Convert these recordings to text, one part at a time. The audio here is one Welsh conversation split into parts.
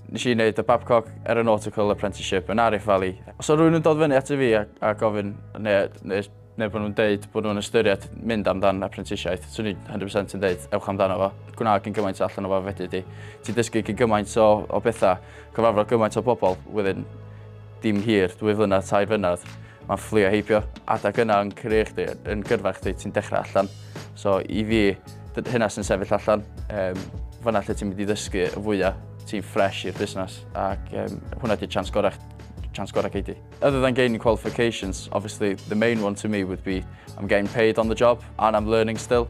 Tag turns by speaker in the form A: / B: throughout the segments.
A: Nes i wneud y Babcock Aeronautical Apprenticeship yn Arif Valley. Os oedd rhywun yn dod fyny ato fi a, a gofyn, neu, neu, neu bod nhw'n deud bod nhw'n ystyried mynd amdan apprentisiaeth, swn i'n 100% yn deud, ewch amdano fo. Gwna gyn gymaint allan o fo fedri di. Ti dysgu gyn gymaint o, o bethau, cyfarfod gymaint o bobl within dim hir, dwy flynedd, tair flynedd. Mae fflio heibio, adeg yna yn career chdi, yn gyrfa chdi, ti'n dechrau allan. So i fi, hynna sy'n sefyll allan, um, fyna lle ti'n mynd i ddysgu y fwyaf, ti'n ffres i'r busnes, ac um, hwnna di chance gorau chance gorau gei di. Other than gaining qualifications, obviously the main one to me would be I'm getting paid on the job and I'm learning still.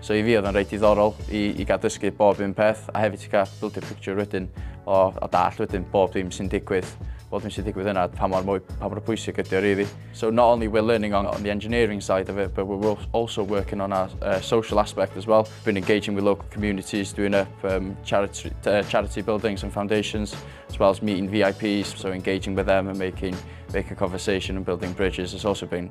A: So i fi oedd o'n reit diddorol i, i gael dysgu bob un peth a hefyd i gael build a picture wedyn o, o dall wedyn bob dim sy'n digwydd bod yn sy'n digwydd yna, pa mor, pa mor pwysig ydy o really. So not only we're learning on, on the engineering side of it, but we're also working on our uh, social aspect as well. Been engaging with local communities, doing up um, charity, uh, charity buildings and foundations, as well as meeting VIPs, so engaging with them and making, making conversation and building bridges has also been